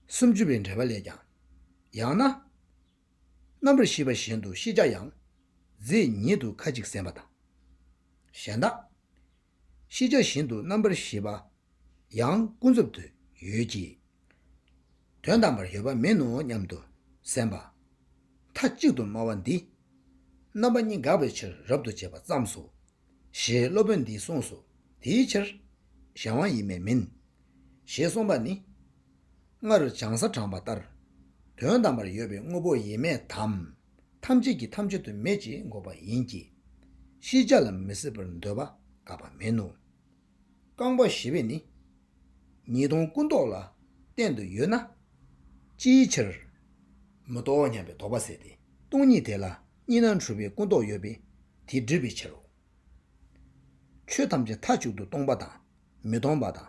སུམ་ཅུ་པའི་འགྲེལ་པ་ལས་ཀྱང། ཡང་ན། རྣམ་པར་ཤེས་པ་བཞིན་དུ་ཤེས་བྱ་ཡང་རྫས་ཉིད་དུ་ཁ་ཅིག་སེམས་པ་དང། གཞན་དག། ཤེས་བྱ་བཞིན་དུ་རྣམ་པར་ཤེས་པ། ཡང་ཀུན་རྫོབ་ཏུ་ཡོད་ཀྱི། དོན་དམ་པར་ཡོད་པ་མིན་ནོ་སྙམ་དུ་སེམས་པ། མཐའ་གཅིག་ཏུ་སྨྲ་བ་འདིས། རྣམ་པ་གཉིས་འགགས་པའི་ཕྱིར་རབ་ཏུ་འབྱེད་པ་བརྩམས་སོ་ཞེས་སློབ་དཔོན་འདིས་གསུངས་སོ། དེའི་ཕྱིར། གཞན་དབང་ཡིན་མེད་མིན། ཞེས་གསུངས་པ་ནི། སྔར་བྱང་ས་དྲངས་པ་ལྟར། དོན་དམ་པར་ཡོད་པའི་དངོས་པོ་ཡེ་མེད་དམ། ཐམས་ཅད་ཀྱི་ཐམས་ཅད་དུ་མེད་ཅེས་འགོག་པ་ཡིན་གྱི། ཤེས་བྱ་ལ་མི་སྲིད་པར་འདོད་པ་དགག་པ་མིན་ནོ། རྐང་པ་བཞི་པས་ནི། ཉིས་སྟོང་སྐུ་མདོག་ལ་བསྟན་དུ་ཡོད་ན། ཅིའི་ཕྱིར། མི་རྟོག་སྙམ་པའི་དོགས་པ་ཟད་དེ་སྟོང་ཉིད་དེ་ལ་གཉིས་སྣང་འཁྲུལ་པའི་སྐུ་མདོག་ཡོད་པས་དེ་སྒྲིབ་པའི་ཕྱིར་རོ། ཆོས་ཐམས་ཅད་མཐའ་གཅིག་ཏུ་སྟོང་པ་དང་མི་སྟོང་པ་དང་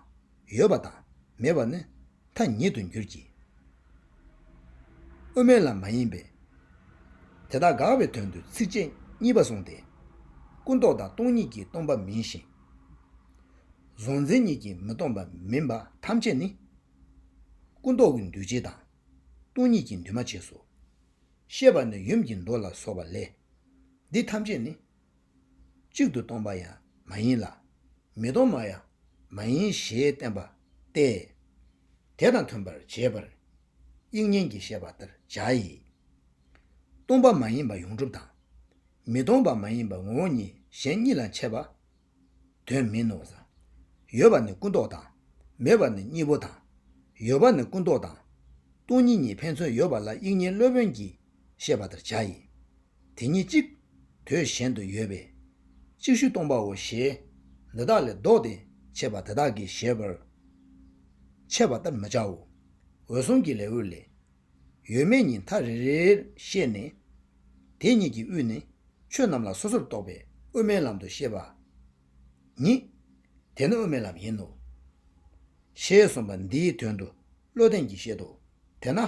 ཡོད་པ་དང་མེད་པ་ནི་མཐའ་ཉིད་དུ་འགྱུར་གྱི། དབུ་མའི་ལམ་མ་ཡིན་པས། དེ་དག་དགག་པའི་དོན་དུ་ཚིགས་བཅད་གཉིས་པ་གསུངས་ཏེ། སྐུ་མདོག་དང་སྟོང་ཉིད་ཀྱིས་སྟོང་པ་མིན་ཞིང། གཟུང་འཛིན་གཉིས་ཀྱིས་མི་སྟོང་པ་མིན་པ་ཐམས་ཅད་ནི། སྐུ་མདོག་གི་འདུས་བྱས་དང་སྟོང་ཉིད་ཀྱིས་འདུས་མ་བྱས་སོ། ཤེས་པ་ནི་ཡུམ་གྱི་མདོ་ལ་སོགས་པ་ལས། འདི་ཐམས་ཅད་ནི། གཅིག་ཏུ་སྟོང་པ་ཡང་མ་ཡིན་ལ། མི་སྟོང་བ་ཡང་མ་ཡིན་ཞེས་བསྟན་པ་སྟེ། དེ་དང་མཐུན་པར་བྱས་པར་དབྱིག་གཉེན་གྱིས་བཤད་པ་ལྟར་བྱ་ཡི། སྟོང་པ་མ་ཡིན་པ་ཡོངས་གྲུབ་དང། མི་སྟོང་པ་མ་ཡིན་པ་ངོ་བོ་ཉིད་གཞན་གཉིས་ལ་འཆད་པ། དོན་མིན་ནོ། ཡོད་པ་ནི་ཀུན་རྟོག་དང། མེད་པ་ནི་གཉིས་པོ་དང། ཡོད་པ་ནི་ཀུན་རྟོག་དང། སྟོང་ཉིད་གཉིས་ཕན་ཚུན་ཡོད་པ་ལ་དབྱིག་གཉེན་སློབ་དཔོན་གྱིས་བཤད་པ་ལྟར་བྱ་ཡི། དེ་ཉིད་གཅིག། དོད་གཞན་དུ་ཡོད་པས། ཅིག་ཤོས་སྟོང་པའོ་ཞེས། འདི་དག་ལས་བཟློག་སྟེ་འཆད་པ་དེ་དག་གིས་ཞེས་པར། འཆད་པ་ལྟར་མི་བྱའོ། འོད་སྲུང་གི་ལེའུ་ལས། ཡོད་མེད་གཉིས་མཐའ་རེ་རེར་ཤེས་ནས། དེ་གཉིས་ཀྱི་དབུས་ནི་ཆོས་རྣམས་ལ་སོ་སོར་རྟོག་པའི་དབུ་མའི་ལམ་དུ་ཤེས་པ་ཉིད། དེ་ནི་དབུ་མའི་ལམ་ཡིན་ནོ། ཞེས་གསུངས་པ་འདིའི་དོན་དུ་བློ་ལྡན་གྱིས་བཤད་དོ། དེས་ན།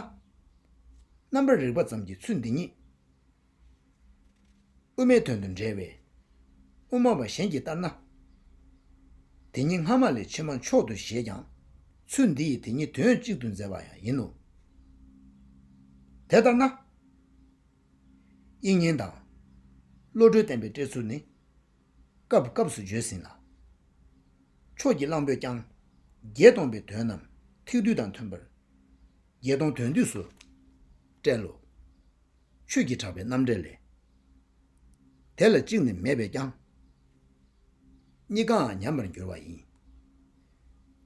རྣམ་པར་རིག་པ་ཙམ་གྱི་ཚུལ་འདི་ཉིད། དབུ་མའི་དོན་དུ་འབྲེལ་བས། དབུ་མ་པ་གཞན་གྱིས་ལྟར་ན། དེ་ཉིད་སྔ་མ་ལས་ཕྱི་མ་མཆོག་ཏུ་བཞེད་ཀྱང། ཚུལ་འདི་ཡིས་དེ་ཉིད་དོན་གཅིག་ཏུ་མཛད་པ་ཡང་ཡིན་ནོ། དེ་ལྟར་ན། དབྱིག་གཉེན་དང། བློ་གྲོས་བསྟན་པའི་བཀྲལ་ཚུལ་ནི། སྐབས་སྐབས་སུ་བརྗོད་ཟིན་ལ། ཕྱོགས་ཀྱི་གླང་པོས་ཀྱང། བརྒྱད་སྟོང་པའི་དོན་རྣམས་ཐིག་རྡུལ་དང་མཐུན་པར། བརྒྱད་སྟོང་དོན་བསྡུས་སུ་བཀྲལ་ལོ། ཆོས་ཀྱི་གྲགས་པའི་རྣམ་འགྲེལ་ལས། དེ་ལ་གཅིག་ནི་མེད་པས་ཀྱང། གཉིས་ཀའང་ཉམས་པར་འགྱུར་བ་ཡིན།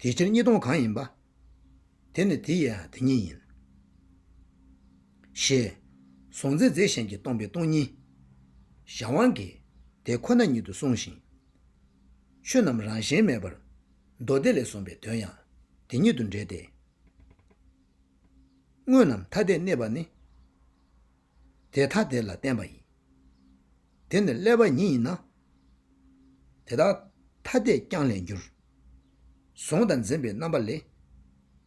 དེ་ཕྱིར་གཉིས་སྟོང་གང་ཡིན་པ། དེ་ནི་དེ་ཡི་དེ་ཉིད་ཡིན། ཞེས། གཟུང་འཛིན་རྫས་གཞན་གྱིས་སྟོང་པའི་སྟོང་ཉིད། གཞན་དབང་གིས་དེ་ཁོ་ན་ཉིད་དུ་གསུངས་ཤིང། ཆོས་རྣམས་རང་བཞིན་མེད་པར། མདོ་སྡེ་ལས་གསུངས་པའི་དོན་ཡང་དེ་ཉིད་དུ་འབྲེལ་ཏེ། དངོས་རྣམས་ཐ་དད་གནས་པ་ནི། དེ་ཐ་དད་ལ་བརྟེན་པ་ཡིན། དེ་ནི་ཀླད་པ་ཉིད་ཡིན་ན། དེ་དག་ཐ་དད་ཀྱང་ལས་འགྱུར། གཟུང་དང་འཛིན་པའི་རྣམ་པ་ལས།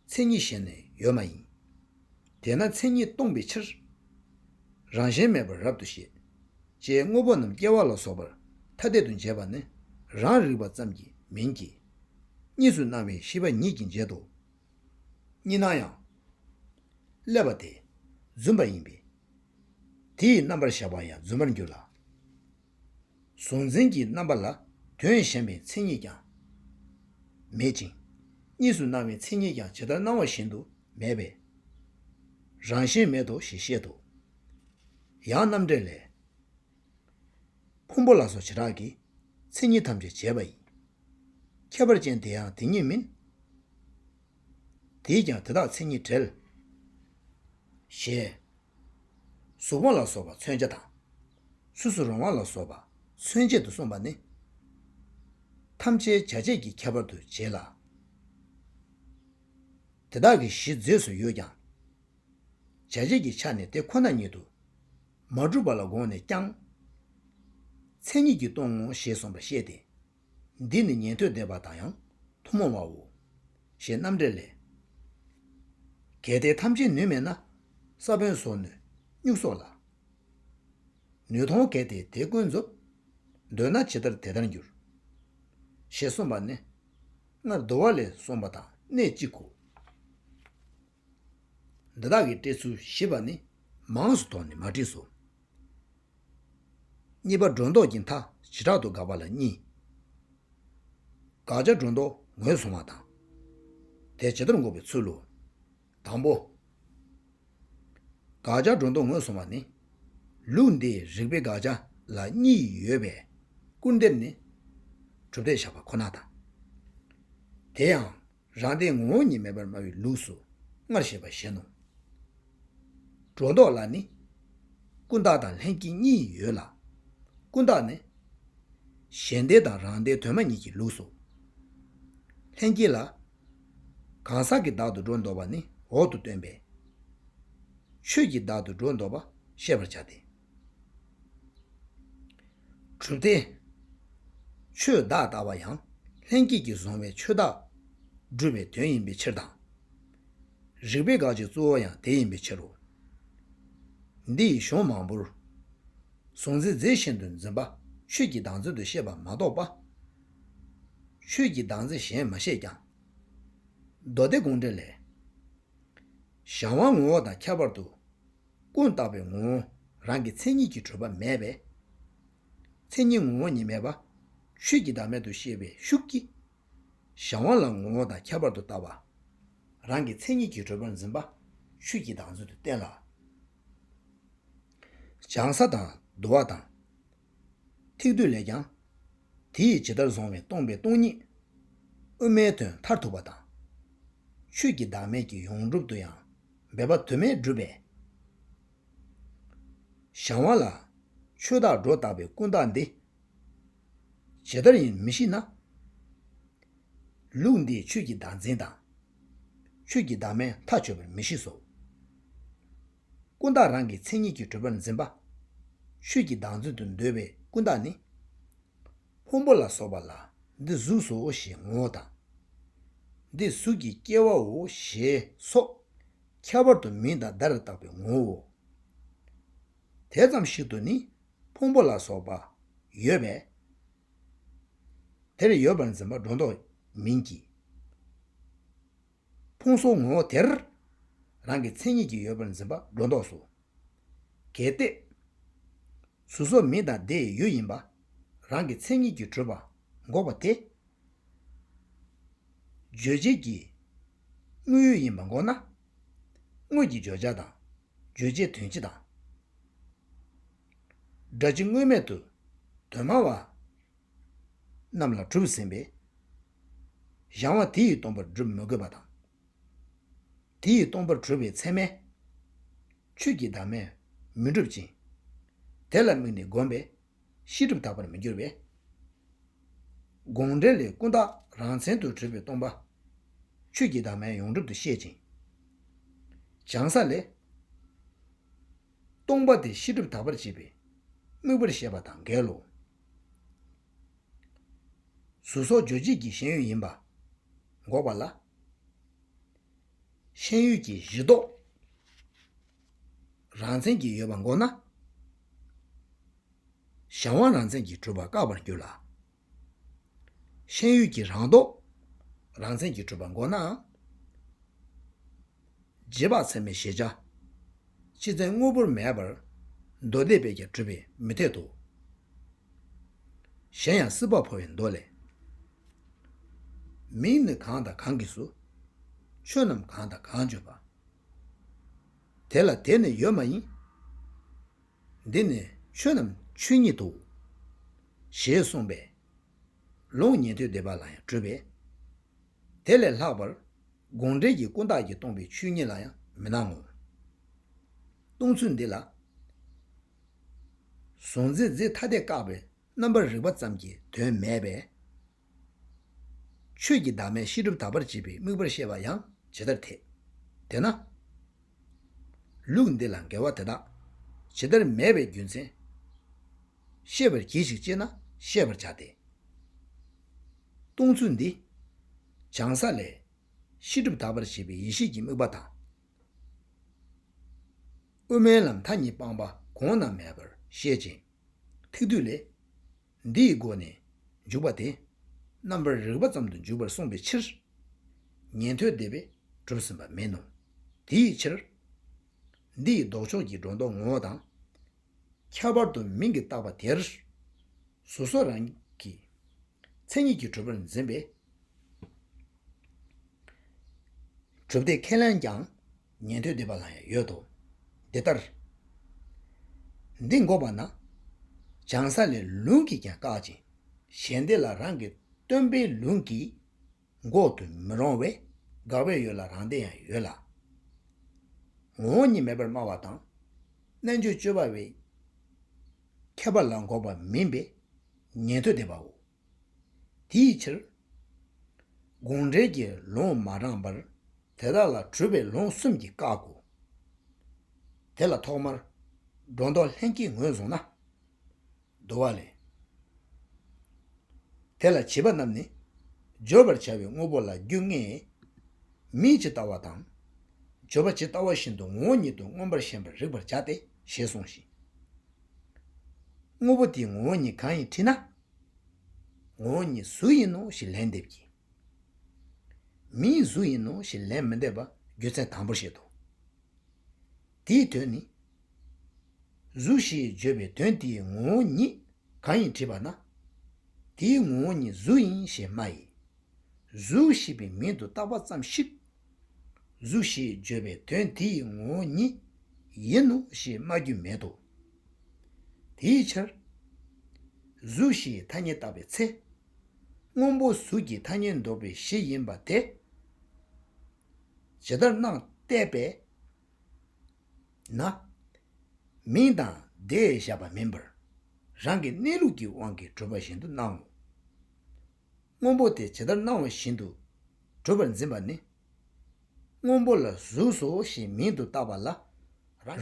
མཚན་ཉིད་གཞན་ནས་ཡོད་མ་ཡིན། དེས་ན་མཚན་ཉིད་སྟོང་པའི་ཕྱིར། རང་བཞིན་མེད་པར་རབ་ཏུ་ཤེས། ཅེས་དངོས་པོ་རྣམས་སྐྱེ་བ་ལ་སོགས་པར་ཐ་དད་དུ་འབྱེད་པ་ནི་རང་རིག་པ་ཙམ་གྱིས་མིན་གྱི། གཉིས་སུ་སྣང་བའི་ཤེས་པ་ཉིད་ཀྱིས་འབྱེད་དོ། གཉིས་སྣང་ཡང། བསླད་པ་དེ་བརྫུན་པ་ཡིན་པས། དེ་ཡི་རྣམ་པར་བཞག་པ་ཡང་བརྫུན་པར་འགྱུར་ལ། གཟུང་འཛིན་གྱི་རྣམ་པ་ལ་དོན་གཞན་པའི་མཚན་ཉིད་ཀྱང་མེད་ཅིང། གཉིས་སུ་སྣང་བའི་མཚན་ཉིད་ཀྱང་ཇི་ལྟར་སྣང་བ་བཞིན་དུ་མེད་པས། རང་བཞིན་མེད་དོ་ཞེས་བཤད་དོ། ཡང་རྣམ་འགྲེལ་ལས། ཕུང་པོ་ལ་སོགས་བྱེ་བྲག་གིས། མཚན་ཉིད་ཐམས་ཅད་བྱས་པ་ཡི། ཁྱད་པར་ཅན་དེ་ཡང་དེ་ཉིད་མིན། དེས་ཀྱང་དེ་དག་མཚན་ཉིད་བྲལ། ཞེས། གཟུགས་བར་ལ་སོགས་པ་མཚོན་བྱ་དང། སུ་སུ་རུང་བ་ལ་སོགས་པ་མཚོན་བྱེད་དུ་གསུངས་པ་ནི། ཐམས་ཅད་བྱ་བྱེད་ཀྱི་ཁྱད་པར་དུ་བྱེད་ལ། དེ་དག་གི་གཞི་རྫས་སུ་ཡོད་ཀྱང། བྱ་བྱེད་ཀྱི་ཆ་ནས་དེ་ཁོ་ན་ཉིད་དུ་མ་གྲུབ་པ་ལ་དགོངས་ནས་ཀྱང། མཚན་ཉིད་ཀྱིས་སྟོང་ངོ་ཞེས་གསུངས་པར་བཤད་དེ། འདི་ནི་ཉན་ཐོས་བདེ་བ་དང་ཡང་ཐུན་མོང་བའོ། ཞེས་རྣམ་འགྲེལ་ལས། གལ་ཏེ་ཐམས་ཅད་ནུས་མེད་ན། ས་བོན་སོགས་ནུས་སྨྱུག་སོགས་ལ། ནུས་མཐོང་གལ་ཏེ་དེ་ཀུན་རྫོབ། འདོད་ན་ཇི་ལྟར་དེ་ལྟར་འགྱུར། ཞེས་གསུངས་པ་ནི། སྔར་བསྡུ་བ་ལས་གསུངས་པ་དང་གནད་གཅིག་གོ། འདི་དག་གི་བཀྲི་ཚུལ་ཞེས་པ་ནི་མང་སུ་དོགས་ནས་མ་བྲིས་སོ། གཉིས་པ་སྒྲོ་འདོགས་ཀྱི་མཐའ་བྱེ་བྲག་ཏུ་དགག་པ་ལ་གཉིས། དགག་བྱ་སྒྲོ་འདོགས་ངོས་བཟུང་བ་དང། དེ་ཇི་ལྟར་འགོག་པའི་ཚུལ་ལོ། དང་པོ། དགག་བྱ་སྒྲོ་འདོགས་ངོས་བཟུང་བ་ནི། ལུགས་འདིའི་རིགས་པའི་དགག་བྱ་ལ་གཉིས་ཡོད་པས་སྐུར་འདེབས་ནི། གྲུབ་མཐའི་བཞག་པ་ཁོ་ན་དང། དེ་ཡང། རང་སྟེང་ངོ་བོ་ཉིད་མེད་པར་སྨྲ་བའི་ལུགས་སུ་སྔར་བཤད་པ་བཞིན་ནོ། སྒྲོ་འདོགས་ལ་ནི། ཀུན་བརྟགས་དང་ལྷན་སྐྱེས་གཉིས་ཡོད་ལ། ཀུན་བརྟགས་ནི། གཞན་སྡེ་དང་རང་སྡེ་དོན་མ་ཉིད་ཀྱི་ལུགས་སོ། ལྷན་སྐྱེས་ལ། གང་ཟག་གི་བདག་ཏུ་སྒྲོ་འདོགས་པ་ནི་འོག་ཏུ་སྟོན་པས། ཆོས་ཀྱི་བདག་ཏུ་སྒྲོ་འདོགས་པ་བཤད་པར་བྱ་སྟེ། གྲུབ་སྟེ། ཆོས་བདག་ལྟ་བ་ཡང་ལྷན་སྐྱེས་ཀྱིས་བཟུང་བའི་ཆོས་བདག། སྒྲུབ་པའི་དོན་ཡིན་པའི་ཕྱིར་དང། རིགས་པའི་དགག་བྱའི་གཙོ་བོ་ཡང་དེ་ཡིན་པའི་ཕྱིར་རོ། འདི་ཡི་གཞུང་མང་པོར། གཟུང་འཛིན་རྫས་བཞིན་དུ་འཛིན་པ་ཆོས་ཀྱི་བདག་འཛིན་དུ་བཤད་པ་མ་གཏོགས་པ། ཆོས་ཀྱི་བདག་འཛིན་གཞན་མ་བཤད་ཀྱང། མདོ་སྡེ་དགོངས་འགྲེལ་ལས། གཞན་དབང་ངོ་བོ་དང་ཁྱད་པར་དུ། ཀུན་བརྟགས་པའི་ངོ་བོ་རང་གི་མཚན་ཉིད་ཀྱིས་གྲོལ་བ་མེད་པས། མཚན་ཉིད་ངོ་བོ་ཉིད་མེད་པ། ཆོས་ཀྱི་བདག་མེད་དུ་ཤེས་པའི་ཤུགས་ཀྱིས། གཞན་དབང་ལ་ངོ་བོ་དང་ཁྱད་པར་དུ་བལྟ་བ། རང་གི་མཚན་ཉིད་ཀྱིས་གྲོལ་བར་འཛིན་པ། ཆོས་ཀྱི་བདག་མཚོན་དུ་བསྟན་ལ། སྦྱང་ས་དང་བསྡུ་བ་དང། ཐིག་རྡུལ་ལས་ཀྱང། དེ་ཡིས་ཇི་ལྟར་བཟུང་བས་སྟོང་པའི་སྟོང་ཉིད། དབུ་མའི་དོན་མཐར་ཐུག་པ་དང། ཆོས་ཀྱི་བདག་མེད་ཀྱི་ཡོངས་གྲུབ་ཏུ་ཡང་འབད་པ་དུ་མས་བསྒྲུབས་པས། བྱང་བ་ལ། ཆོས་བདག་སྒྲོ་བཏགས་པའི་ཀུན་བཏགས་འདི། ཇི་ལྟར་ཡིན་མི་ཤེས་ན། ལུགས་འདིས་ཆོས་ཀྱི་བདག་འཛིན་དང། ཆོས་ཀྱི་བདག་མེད་མཐའ་ཆོད་པར་མི་ཤེས་སོ། ཀུན་བརྟགས་རང་གི་མཚན་ཉིད་ཀྱི་བགྲོད་པར་འཛིན་པ། ཆོས་ཀྱི་བདག་འཛིན་དུ་འདོད་པའི་ཀུན་བརྟགས་ནི། ཕུང་པོ་ལ་སོགས་པ་ལ་འདི་གཟུགས་སོ་ཞེས་ངོ་བོ་དང། འདི་གཟུགས་ཀྱི་སྐྱེ་བའོ་ཞེས་སོགས། ཁྱད་པར་དུ་མིང་དང་བརྡ་ལ་བཏགས་པའི་ངོ་བོའོ། དེ་ཙམ་ཞིག་ཏུ་ནི་ཕུང་པོ་ལ་སོགས་པ་ཡོད་པས། དེར་ཡོད་པར་འཛིན་པ་སྒྲོ་འདོགས་མིན་གྱི། ཕུང་སོགས་ངོ་བོ་དེར། རང་གི་མཚན་ཉིད་ཀྱིས་ཡོད་པར་འཛིན་པ་སྒྲོ་འདོགས་སོ། གལ་ཏེ། གཟུགས་སོགས་མི་དང་དེ་ཡི་ཡུལ་ཡིན་པ། རང་གི་མཚན་ཉིད་ཀྱིས་གྲོལ་བ་འགོག་པ་དེ། རྗོད་བྱེད་ཀྱི་དངོས་ཡུལ་ཡིན་པ་འགོག་ན། དངོས་ཀྱི་བརྗོད་བྱ་དང་རྗོད་བྱེད་དོན་སྤྱི་དང། སྒྲ་སྤྱི་དངོས་མེད་དུ་དོན་སྨྲ་བ་རྣམས་ལ་གྲུབ་ཟིན་པས། གཞང་བ་དེ་ཡིས་སྟོང་པར་བསྒྲུབ་མི་དགོས་པ་དང། དེ་ཡིས་སྟོང་པར་གྲོལ་བའི་ཚད་མས། ཆོས་ཀྱི་བདག་མེད་མི་འགྲུབ་ཅིང། དེ་ལ་དམིགས་ནས་བསྒོམས་པས་ཤེས་སྒྲིབ་དག་པར་མི་འགྱུར་བས། དགོངས་འགྲེལ་ལས་ཀུན་བརྟགས་རང་མཚན་དུ་གྲོལ་བའི་སྟོང་པ། ཆོས་ཀྱི་བདག་མེད་ཡོངས་གྲུབ་ཏུ་བཤད་ཅིང། བྱང་ས་ལས། སྟོང་པ་དེ་ཤེས་སྒྲིབ་དག་པར་བྱེད་པའི་དམིགས་པར་བཤད་པ་དང་འགལ་ལོ། གཟུགས་སོགས་རྗོད་བྱེད་ཀྱི་ཤེས་ཡོན་ཡིན་པ་འགོག་པ་ལ། ཤེས་ཡོན་གྱི་གཞི་རྟོག་རང་མཚན་གྱིས་ཡོད་པ་འགོག་ན། གཞན་དབང་རང་མཚན་གྱིས་གྲུབ་པ་བཀག་པར་འགྱུར་ལ། ཤེས་ཡོན་གྱི་རང་རྟོག་རང་མཚན་གྱིས་གྲུབ་པ་འགོག་ནའང། རྗེས་དཔག་ཚད་མའི་གཞལ་བྱ། སྤྱི་མཚན་དངོས་པོར་མེད་པར། མདོ་སྡེ་པས་ཀྱང་གྲུབ་པས་མི་འཐད་དོ། གཞན་ཡང་སྲིད་པ་འཕོ་བའི་མདོ་ལས། མིང་ནི་གང་དང་གང་གིས་སུ། ཆོས་རྣམས་གང་དང་གང་བརྗོད་པ། དེ་ལ་དེ་ནི་ཡོད་མ་ཡིན། འདི་ནི་ཆོས་རྣམས་ཆོས་ཉིད་དོ། ཞེས་གསུངས་པས། ལུང་ཉན་ཐོས་སྡེ་པ་ལ་ཡང་གྲུབ་པས། དེ་ལས་ལྷག་པར་དགོངས་འགྲེལ་གྱི་ཀུན་བརྟགས་ཀྱིས་སྟོང་པའི་ཆོས་ཉིད་ལ་ཡང་མི་སྣང་ངོ། སྟོང་ཚུལ་འདི་ལ། གཟུང་འཛིན་རྫས་ཐ་དད་བཀག་པའི་རྣམ་པར་རིག་པ་ཙམ་གྱིས་དོན་མེད་པས། ཆོས་ཀྱི་བདག་མེད་གཤིས་གྲུབ་དག་པར་བྱེད་པའི་དམིགས་པར་བཤད་པ་ཡང་ཇི་ལྟར་འཐད་དེ་ན། ལུགས་འདི་ལ་འགལ་བ་དེ་དག་ཇི་ལྟར་མེད་པའི་རྒྱུ་མཚན། ཤེས་པར་གྱིས་ཤིག་ཅེ་ན་བཤད་པར་བྱ་སྟེ། སྟོང་ཚུལ་འདི། བྱང་ས་ལས། ཤེས་སྒྲིབ་དག་པར་བྱེད་པའི་ཡེ་ཤེས་ཀྱི་དམིགས་པ་དང། དབུ་མའི་ལམ་མཐའ་གཉིས་སྤངས་པ་གོང་རྣམས་མེད་པར་བཤད་ཅིང། ཐིག་བསྡུས་ལས། འདི་ཡི་སྒོ་ནས་འཇུག་པ་དེ། རྣམ་པར་རིག་པ་ཙམ་དུ་འཇུག་པར་གསུངས་པའི་ཕྱིར། ཉན་ཐོས་སྡེ་པས་གྲུབ་ཟིན་པ་མིན་ནོ། དེའི་ཕྱིར། འདི་ཡི་ལྡོག་ཕྱོགས་ཀྱི་སྒྲོ་འདོགས་ངོ་བོ་དང། ཁྱད་པར་དུ་མིང་གིས་བཏགས་པ་དེར། སོ་སོ་རང་གི། མཚན་ཉིད་ཀྱིས་གྲུབ་པར་འཛིན་པས། གྲུབ་མཐའི་ཁས་ལེན་ཀྱང་ཉན་ཐོས་སྡེ་པ་ལ་ཡང་ཡོད་དོ། འདི་ལྟར། འདི་འགོག་པ་ན། བྱང་ས་ལས་ལུང་གིས་ཀྱང་བཀག་ཅིང། གཞན་སྡེ་ལ་རང་གི་སྟོན་པའི་ལུང་གིས། འགོག་ཏུ་མི་རུང་བས་དགག་པའི་ཡུལ་ལ་རང་སྡེ་ཡང་ཡོད་ལ། ངོ་བོ་ཉིད་མེད་པར་སྨྲ་བ་དང། རྣལ་འབྱོར་སྤྱོད་པ་བའི་ཁྱད་པར་ལ་འགོག་པ་མིན་པས་ཉན་ཐོས་སྡེ་པའོ། དེའི་ཕྱིར། དགོངས་འགྲེལ་གྱི་ལུང་མ་དྲངས་པར་དེ་དག་ལ་གྲུབ་པའི་ལུང་གསུམ་གྱིས་བཀག་གོ། དེ་ལ་ཐོག་མར་སྒྲོ་འདོགས་ལྷན་སྐྱེས་ངོས་བཟུང་ན། བསྡུ་བ་ལས། དེ་ལ་བྱིས་པ་རྣམས་ནི། བརྗོད་པར་བྱ་བའི་དངོས་པོ་ལ་རྒྱུ་ལྔས། མིག་ཇི་ལྟ་བ་དང། བརྗོད་པ་ཇི་ལྟ་བ་བཞིན་དུ་ངོ་བོ་ཉིད་དུ་མངོན་པར་ཞེན་པར་རིག་པར་བྱ་སྟེ་ཞེས་གསུངས་ཤིང། དངོས་པོ་དེའི་ངོ་བོ་ཉིད་གང་ཡིན་དྲིས་ན། ངོ་བོ་ཉིད་གཟུགས་ཡིན་ནོ་ཞེས་ལན་འདེབས་ཀྱི། མིའི་གཟུགས་ཡིན་ནོ་ཞེས་ལན་མི་འདེབས་པ་རྒྱུ་མཚན་དང་པོར་བཤད་དོ། དེའི་དོན་ནི། གཟུགས་ཞེས་བརྗོད་པའི་དོན་དེའི་ངོ་བོ་ཉིད་གང་ཡིན་དྲིས་པ་ན། དེའི་ངོ་བོ་ཉིད་གཟུགས་ཡིན་ཞེས་སྨྲ་ཡི། གཟུགས་ཞེས་པའི་མིང་དུ་བཏགས་པ་ཙམ་ཞིག། གཟུགས་ཞེས་བརྗོད་པའི་དོན་དེའི་ངོ་བོ་ཉིད་ཡིན་ནོ་ཞེས་སྨྲ་རྒྱུ་མེད་དོ། དེའི་ཕྱིར། གཟུགས་ཞེས་ཐ་སྙད་བཏགས་པའི་ཚེ། སྔོན་པོ་གཟུགས་ཀྱི་ཐ་སྙད་འདོགས་པའི་གཞི་ཡིན་པ་དེ། ཇི་ལྟར་སྣང་བལྟས་པས་ན། མིང་དང་བརྡས་བཞག་པ་མིན་པར། རང་གི་གནས་ལུགས་ཀྱི་དབང་གིས་གྲུབ་པ་བཞིན་དུ་སྣང་ངོ། སྔོན་པོ་དེ་ཇི་ལྟར་སྣང་བ་བཞིན་དུ་གྲུབ་པར་འཛིན་པ་ནི། སྔོན་པོ་ལ་གཟུགས་སོ་ཞེས་མིང་དུ་བཏགས་པ་ལ།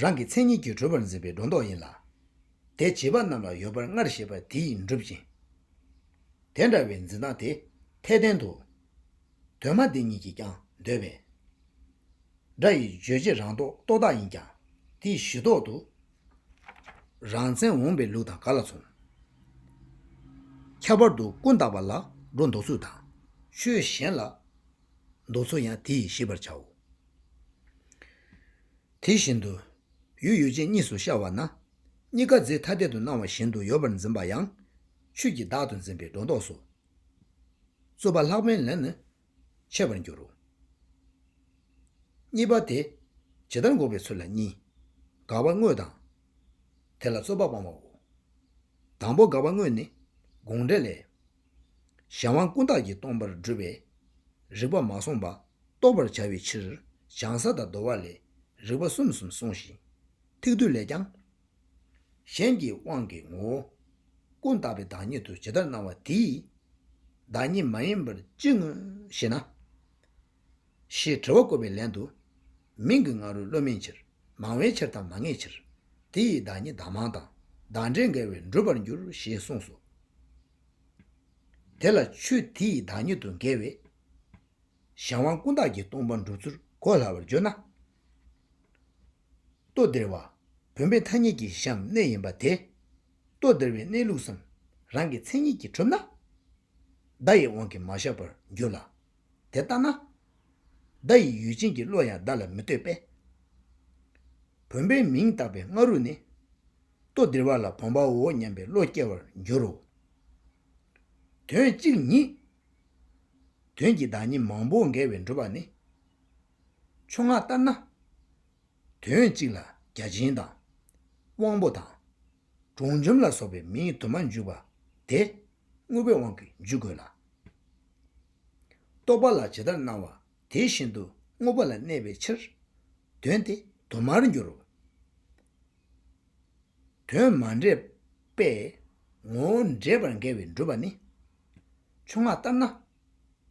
རང་གི་མཚན་ཉིད་ཀྱིས་གྲུབ་པར་འཛིན་པའི་སྒྲོ་འདོགས་ཡིན་ལ། དེ་བྱིས་པ་རྣམས་ལ་ཡོད་པར་སྔར་བཤད་པ་དེ་ཡིས་འགྲུབ་ཅིང། དེ་འདྲ་བའི་འཛིན་སྟངས་དེ་འཐད་ལྡན་དུ། གདོད་མ་འདི་ཉིད་ཀྱིས་ཀྱང་འདོད་པས། སྒྲ་ཡི་རྗོད་བྱེད་རང་ལྡོག་རྟོག་བཏགས་ཡིན་ཀྱང། དེ་ཡི་གཞི་ལྡོག་ཏུ་རང་མཚན་འོངས་པའི་ལུགས་དང་ག་ལ་མཚུངས། ཁྱད་པར་དུ་ཀུན་བཏགས་པ་ལ་སྒྲོ་འདོགས་ཚུལ་དང། ཆོས་གཞན་ལ་འདོགས་ཚུལ་ཡང་དེ་ཡིས་ཤེས་པར་བྱའོ། དེ་བཞིན་དུ་ཡུལ་ཡོད་ཅིང་གཉིས་སུ་ཤར་བ་ན། གཉིས་ཀ་རྫས་ཐ་དད་དུ་སྣང་བ་བཞིན་དུ་ཡོད་པར་འཛིན་པ་ཡང། ཆོས་ཀྱི་བདག་ཏུ་འཛིན་པའི་སྒྲོ་འདོགས་སོ། རྩོད་པ་ལྷག་པའི་ལན་ནི་འཆད་པར་འགྱུར་རོ། གཉིས་པ་དེ་ཇི་ལྟར་འགོག་པའི་ཚུལ་ལ་གཉིས། དགག་པ་དངོས་དང། དེ་ལ་རྩོད་པ་སྤང་བའོ། དང་པོ་དགག་པ་དངོས་ནི་དགོངས་འགྲེལ་ལས། གཞན་དབང་ཀུན་བརྟགས་ཀྱིས་སྟོང་པར་བསྒྲུབས་པས། རིགས་པ་མ་བསྲུངས་པ་རྟོགས་པར་བྱ་བའི་ཕྱིར་བྱང་ས་དང་བསྡོ་བ་ལས་རིགས་པ་གསུམ་གསུམ་གསུངས་ཤིང། ཐིག་སྡུད་ལས་ཀྱང། གཞན་གྱི་དབང་གི་ངོ་བོ། ཀུན་བརྟགས་པའི་བདག་ཉིད་དུ་ཇི་ལྟར་སྣང་བ་དེའི། བདག་ཉིད་མ་ཡིན་པར་ཅི་མངོན་ཞེ་ན། ཞེས་དྲི་བ་བཀོད་པའི་ལན་དུ། མིང་གི་ང་རོས་བློ་མིན་ཕྱིར། མང་བའི་ཕྱིར་དང་མ་ངེས་ཕྱིར། དེ་ཡི་བདག་ཉིད་བདག་མང་དང། བདག་འདྲའི་འགལ་བས་འགྲུབ་པར་འགྱུར་ཞེས་གསུངས་སོ། དེ་ལ་ཆོས་དེ་ཡི་བདག་ཉིད་དུ་འགལ་བས། གཞན་དབང་ཀུན་བརྟགས་ཀྱིས་སྟོང་པར་འགྲུབ་ཚུལ་གོ་སླ་བར་བརྗོད་ན། ལྟོ་ལྡིར་བ། བུམ་པའི་མཐའ་གཉིས་ཀྱི་བཞམས་གནས་ཡིན་པ་དེ། ལྟོ་ལྡིར་བའི་གནས་ལུགས་སམ། རང་གི་མཚན་ཉིད་ཀྱིས་གྲུབ་ན། བརྡ་ཡི་དབང་གིས་མ་བཞག་པར་འགྱུར་ལ། དེ་ལྟ་ན། བརྡ་ཡི་ཡུལ་ཅན་གྱི་བློ་ཡང་བརྡ་ལ་མི་ལྟོས་པས། བུམ་པའི་མིང་བཏགས་པའི་སྔ་རོལ་ནི། ལྟོ་ལྡིར་བ་ལ་བུམ་པའོ་སྙམ་པའི་བློ་སྐྱེ་བར་འགྱུར་རོ། དོན་གཅིག་ཉིད། དོན་གྱི་བདག་ཉིད་མང་པོ་འགལ་བའི་འགྲུབ་པ་ནི། ཆུ་སྔགས་ལྟར་ན། དོན་གཅིག་ལ་བརྒྱ་བྱིན་དང། དབང་པོ་དང། གྲོང་འཇོམས་ལ་སོགས་པའི་མིང་དུ་མ་འཇུག་པ་དེ། དངོས་པོའི་དབང་གིས་འཇུག་དགོས་ལ། རྟོགས་པ་ལ་ཇི་ལྟར་སྣང་བ་དེ་བཞིན་དུ་དངོས་པོ་ལ་གནས་པའི་ཕྱིར། དོན་དེ་དུ་མར་འགྱུར་རོ། དོན་མ་འདྲེས་པས་ངོ་བོ་འདྲེས་པར་འགལ་བའི་འགྲུབ་པ་ནི། ཆུ་སྔགས་ལྟར་ན།